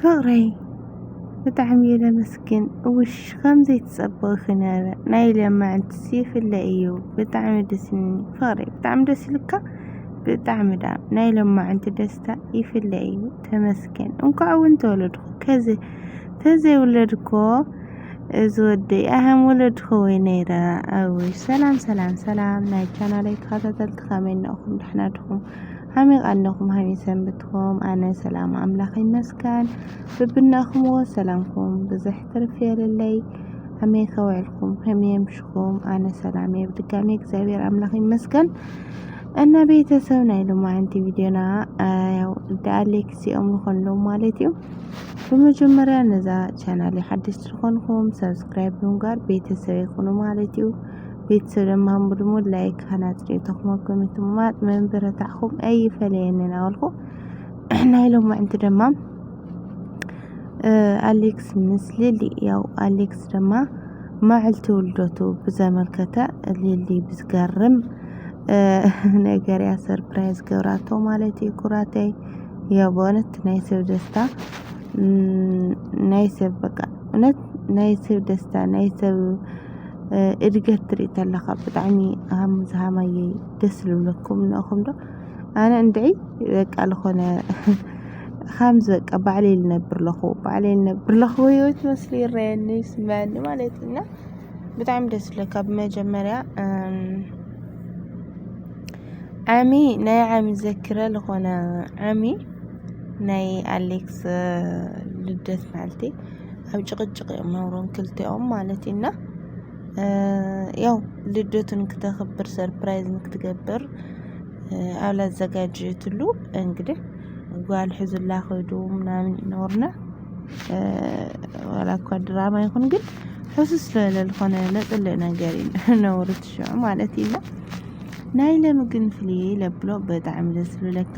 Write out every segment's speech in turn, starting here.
ፍቅረይ ብጣዕሚ እየ ለመስግን ውሽ ከምዘይ ትጸበኺ ነረ ናይ ለማዕንትስ ይፍለ እዩ ብጣዕሚ ደስኒ ፍቅረይ ብጣዕሚ ደስ ይልካ ብጣዕሚ ዳ ናይ ለማዕንቲ ደስታ ይፍለ እዩ ተመስገን እንኳዕ እውን ተወለድኩ ከዚ ተዘይውለድኮ እዚ ወደይ ኣህም ወለድኮ ወይ ነይረ ኣውይ ሰላም ሰላም ሰላም ናይ ቻናለይ ተኸታተልቲ ከመይ ነኹም ደሕና ድኹም ሃመይ ኣለኹም ሃመይ ሰንብትኩም ኣነ ሰላም ኣምላኽ ይመስገን ብብናኹምዎ ሰላምኩም ብዝሕ ትርፍ የለለይ ሃመይ ከውዕልኩም ከመይ የምሽኹም ኣነ ሰላም እየ ብድጋሚ እግዚኣብሔር ኣምላኽ ይመስገን እና ቤተሰብ ናይ ሎማዓንቲ ቪድዮና ያው እንደ ኣሌክስ እዮም ዝኾንሎ ማለት እዩ ብመጀመሪያ ነዛ ቻናል ሓድሽ ዝኾንኩም ሰብስክራይብ ብምግባር ቤተሰብ ይኹኑ ማለት እዩ ቤተሰብ ለማሙ ድሞ ላይክ ሃናጽሪ ተኹመኩም ትማጥ መንበረታዕኹም ኣይፈለየኒ ናበልኩ ናይ ሎማ ዕንቲ ድማ ኣሌክስ ምስ ሊሊ ያው ኣሌክስ ድማ ማዕልቲ ውልደቱ ብዘመልከተ ሊሊ ብዝገርም ነገር ያ ሰርፕራይዝ ገብራቶ ማለት እዩ ኩራተይ ያው በእውነት ናይ ሰብ ደስታ ናይ ሰብ በቃ እውነት ናይ ሰብ ደስታ ናይ ሰብ እድገት ትሪኢ ተለኻ ብጣዕሚ ሃም ዝሃማየ ደስ ዝብለኩም ንእኹም ዶ ኣነ እንድዒ በቃ ዝኾነ ኻምዚ በቃ ባዕለይ ልነብር ለኹ ባዕለይ ልነብር ለኹ ህይወት መስሉ ይረየኒ ይስመዐኒ ማለት እና ብጣዕሚ ደስ ዝብለካ ብመጀመርያ ዓሚ ናይ ዓሚ ዘክረ ዝኾነ ዓሚ ናይ ኣሌክስ ልደት ማለተይ ኣብ ጭቕጭቕ እዮም ነብሮም ክልቲኦም ማለት እዩ እና ያው ልደቱ ንክተኽብር ሰርፕራይዝ ንክትገብር ኣብ ላዘጋጀትሉ እንግዲህ ጓል ሕዙላ ከይዱ ምናምን ይኖርና ዋላ እኳ ድራማ ይኹን ግን ሕሱስ ዝበለ ዝኾነ ለጥልእ ነገር እዩ ነውሪ ትሽዑ ማለት እዩ ናይ ለምግን ፍልይ ለብሎ በጣዕሚ ደስ ዝብለካ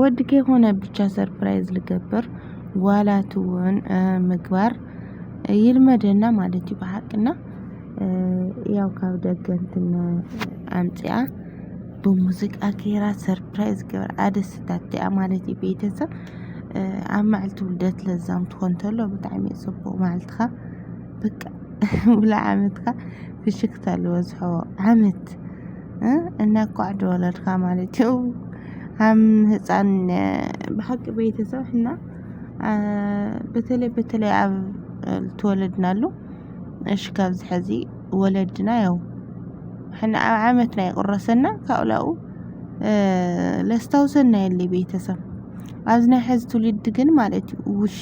ወዲ ከይኮነ ብቻ ሰርፕራይዝ ልገብር ጓላት እውን ምግባር ይልመደና ማለት እዩ ብሓቅና ያው ካብ ደገ እንትን ኣምጺኣ ብሙዚቃ ጌራ ሰርፕራይዝ ገይራ ኣደስታቲኣ ማለት እዩ ቤተሰብ ኣብ መዓልቲ ውልደት ለዛም ትኾን ተሎ ብጣዕሚ እዩ ጽቡቕ መዓልትኻ በቃ ሙሉእ ዓመትካ ፍሽኽታ ልበዝሖ ዓመት እንኳዕ ተወለድካ ማለት እዩ። ከም ህፃን ብሓቂ ቤተሰብ እና በተለይ በተለይ ኣብ ተወለድናሉ እሽ ካብዝ ሐዚ ወለድና ያው ሕነ ኣብ ዓመት ናይ ቁረሰና ካውላኡ ለስታውሰና የለ ቤተሰብ ኣብዝ ናይ ሐዚ ትውልድ ግን ማለት እዩ ውሽ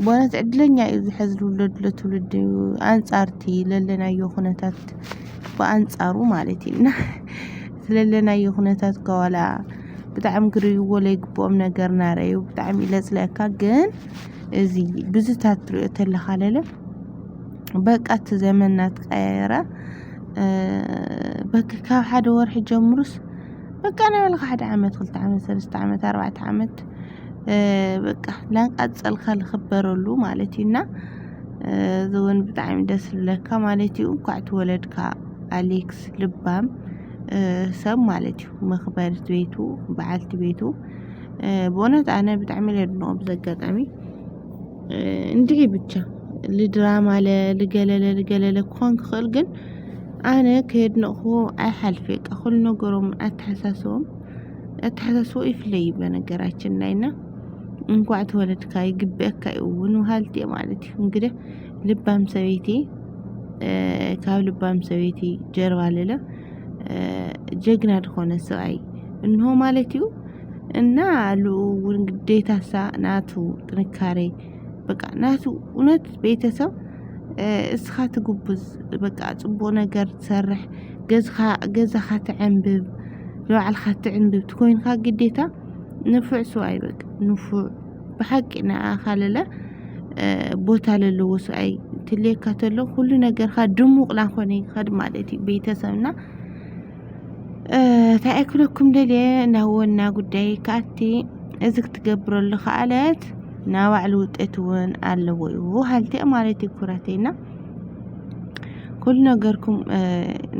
በእውነት ዕድለኛ እዩ ዝሐዚ ልውለድ ለትውልድ ኣንጻርቲ ለለናዮ ኩነታት ብኣንጻሩ ማለት እዩ እና ስለለናዮ ኩነታት እኳ ዋላ ብጣዕሚ ክርእይዎ ዘይግብኦም ነገር እናረኣዩ ብጣዕሚ እዩ ለፅለካ ግን እዚ ብዙታት ትሪኦ ተለኻ ለለ በቃ እቲ ዘመን እናተቀያየረ እ፣ በቃ ካብ ሓደ ወርሒ ጀምሩስ በቃ ናይ በልካ ሓደ ዓመት ክልተ ዓመት ሰለስተ ዓመት ኣርባዕተ ዓመት እ፣ በቃ ላንቃፀልካ ዝኽበረሉ ማለት እዩ እና እዚውን ብጣዕሚ ደስ ዝብለካ ማለት እዩ እንኳዕ ተወለድካ ኣሌክስ ልባም ሰብ ማለት እዩ መኽበርት ቤቱ በዓልቲ ቤቱ ብእውነት ኣነ ብጣዕሚ ኢለ ኣድንቖ በዚ ኣጋጣሚ እንድዒ ብቻ ልድራማ ልገለለ ልገለለ ክኾን ክኽእል ግን ኣነ ከየድነቕክዎ ኣይሓልፍ በቃ ኩሉ ነገሮም ኣተሓሳስቦኦም ኣተሓሳስቦኡ ይፍለይዩ በነገራችን ላይ እና እንኳዕ ተወለድካ ይግበኣካ እዩ እውን ውሃልቲ እየ ማለት እዩ። እንግዲህ ልባም ሰበይቲ ካብ ልባም ሰበይቲ ጀርባ ልለ ጀግና ዝኾነ ሰብኣይ እንሆ ማለት እዩ እና ኣሉ እውን ግዴታሳ ናቱ ጥንካሬ በቃ ናቱ እውነት ቤተሰብ እስኻ ትጉብዝ በቃ ፅቡቅ ነገር ትሰርሕ ገዝኻ ገዛኻ ትዕንብብ ንባዕልኻ ትዕንብብ ትኮይንካ ግዴታ ንፉዕ ሰብኣይ በቃ ንፉዕ ብሓቂ ንዓኻ ለለ ቦታ ለለዎ ሰብኣይ ትልየካ ተሎ ኩሉ ነገርካ ድሙቕ ናኾነ ይኸድ ማለት እዩ ቤተሰብና እንታይ ኣይክለኩም ደልየ ናብ ወና ጉዳይ ከኣቲ እዚ ክትገብረሉ ከኣለት ናይ ባዕሉ ውጤት እውን ኣለዎ እዩ ሃልቲ ማለት እዩ ኩራተይና ኩሉ ነገርኩም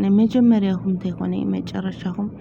ንመጀመርያኹም እንተይኮነ መጨረሻኹም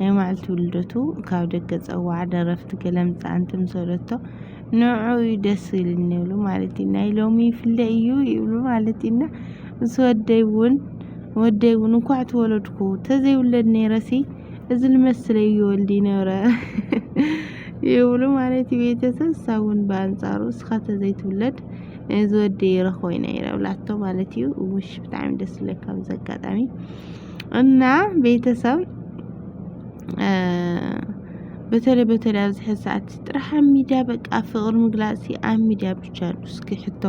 ናይ ማዕልቲ ውልደቱ ካብ ደገ ጸዋዕ ደረፍቲ ገለ ምጻ እንትምሰለቶ ንዑ እዩ ደስ ይልኒ ይብሉ ማለት እዩ ናይ ሎሚ ይፍለ እዩ ይብሉ ማለት እዩና ምስ ወደይ እውን ወደይ እውን እንኳዕ ተወለድኩ ተዘይውለድ ነይረሲ እዚ ልመስለ እዩ ወልዲ ነረ ይብሉ ማለት እዩ ቤተሰብ ሳውን ብኣንጻሩ እስኻ ተዘይትውለድ እዚ ወደይ ይረኽቦ ኢና ይረብላቶ ማለት እዩ ውሽ ብጣዕሚ ደስ ዝለካ ብዚ ኣጋጣሚ እና ቤተሰብ በተለይ በተለይ ኣብዚ ሕዚ ሰዓት ጥራሕ ኣብ ሚድያ በቃ ፍቕሪ ምግላፅ ኣብ ሚድያ ብቻ ዩ እስኪ ሕቶ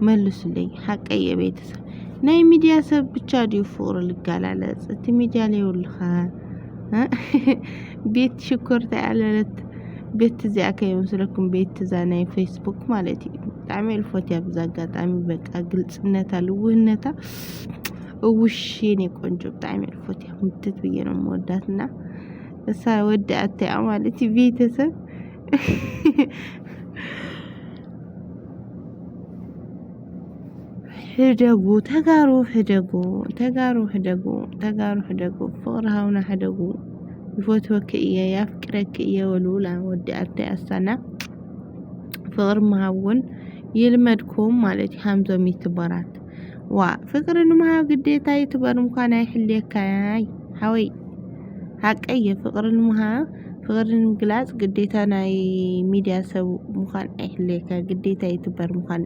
መልሱለይ ሓቀይ እየ ቤተሰብ ናይ ሚድያ ሰብ ብቻ ድዩ ፍቕሪ ልጋላለፅ እቲ ሚድያ ለይብልኻ ቤት ሽኮር ተያለለት ቤት እዚኣ ከይመስለኩም ቤት እዛ ናይ ፌስቡክ ማለት እዩ ብጣዕሚ እልፎት እያ ብዛ ኣጋጣሚ በቃ ግልፅነታ ልውህነታ እውሽ የኔ ቆንጆ ብጣዕሚ ዕፎት እያ ምትት ብዬ ነው የምወዳት እና እሳ ወደ አታያ ማለት ቤተሰብ ሕደጉ ተጋሩ ሕደጉ ተጋሩ ሕደጉ ተጋሩ ሕደጉ ፍቅሪ ሃውና ሕደጉ ይፈትወኪ እየ ያፍቅረኪ እየ ወልውላ ወዲ አታይ አሳና ፍቅሪ መሃውን ይልመድኩም ማለት ሃምዞም ይትበራት ዋ ፍቅሪ ንምሃብ ግዴታ ዩቱበር ምኳን ኣይሕልየካይ ሓወይ ሓቀይ ፍቅሪ ንምሃብ ፍቅሪ ንምግላፅ ግዴታ ናይ ሚድያ ሰብ ምኳን ኣይሕልየካ ግዴታ ዩቱበር ምኳን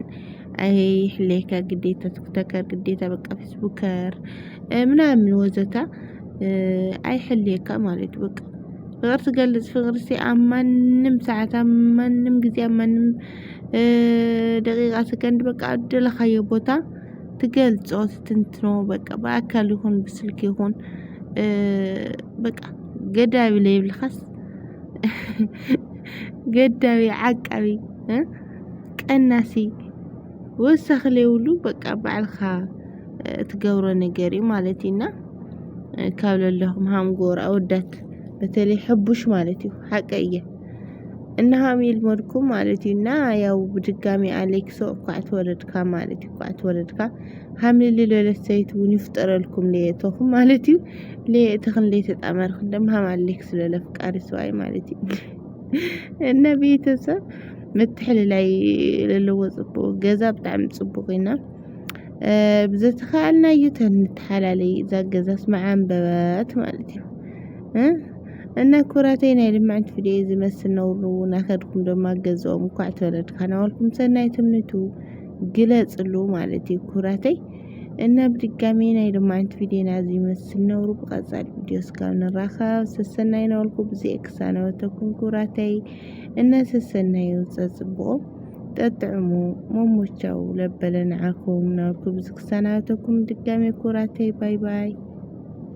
ኣይሕልየካ ግዴታ ቲክቶከር ግዴታ በቃ ፌስቡከር ምናምን ወዘተ ኣይሕልየካ ማለት እዩ በቃ ፍቅሪ ትገልፅ ፍቅሪ ኣብ ማንም ሰዓት ኣብ ማንም ግዜ ኣብ ማንም ደቂቃ ሰከንድ በቃ ኣደለኻዮ ቦታ ትገልጾ ትትንትኖ በቃ ብኣካል ይኹን ብስልኪ ይኹን በቃ ገዳቢ ለይብልኻስ ገዳቢ ዓቃቢ ቀናሲ ወሳኺ ለይብሉ በቃ ባዕልኻ ትገብሮ ነገር እዩ ማለት እዩና ካብ ለለኹም ሃምጎር ኣወዳት በተለይ ሕቡሽ ማለት እዩ ሓቀይ እየ እናሃም ይልመድኩም ማለት እዩ እና ያው ብድጋሚ ኣሌክሶ እኳ ተወለድካ ማለት እዩ እኳ ተወለድካ ሃምልሊ ለለሰይት እውን ይፍጠረልኩም ለየተኹም ማለት እዩ ለየእተኽን ለየተጣመርክ ደም ሃም ኣሌክስ ለለፍቃሪ ሰዋይ ማለት እዩ እና ቤተሰብ ምትሕልላይ ለለዎ ፅቡቅ ገዛ ብጣዕሚ ፅቡቅ ኢና ብዘተኻኣልና እዩ ተንተሓላለይ እዛ ገዛስ መዓንበበት ማለት እዩ እና ኩራተይ ናይ ልምዕንቲ ፍድየ ዝመስል ነውሩ ናኸድኩም ደማ ገዝኦም እኳዕ ተወለድካ ናበልኩም ሰናይ ትምኒቱ ግለጽሉ ማለት እዩ ኩራተይ እና ብድጋሚ ናይ ልማዕንቲ ፊዴና ዝመስል ነውሩ ብቐጻሊ ቪድዮ እስካብ ንራኸብ ሰሰናይ ናበልኩ ብዚኤ ክሳነበተኩም ኩራተይ እና ሰሰናይ ይውጸ ጽቡቑ ጠጥዕሙ መሞቻው ለበለ ንዓኩም ናበልኩ ብዚ ክሳናበተኩም ድጋሚ ኩራተይ ባይ ባይ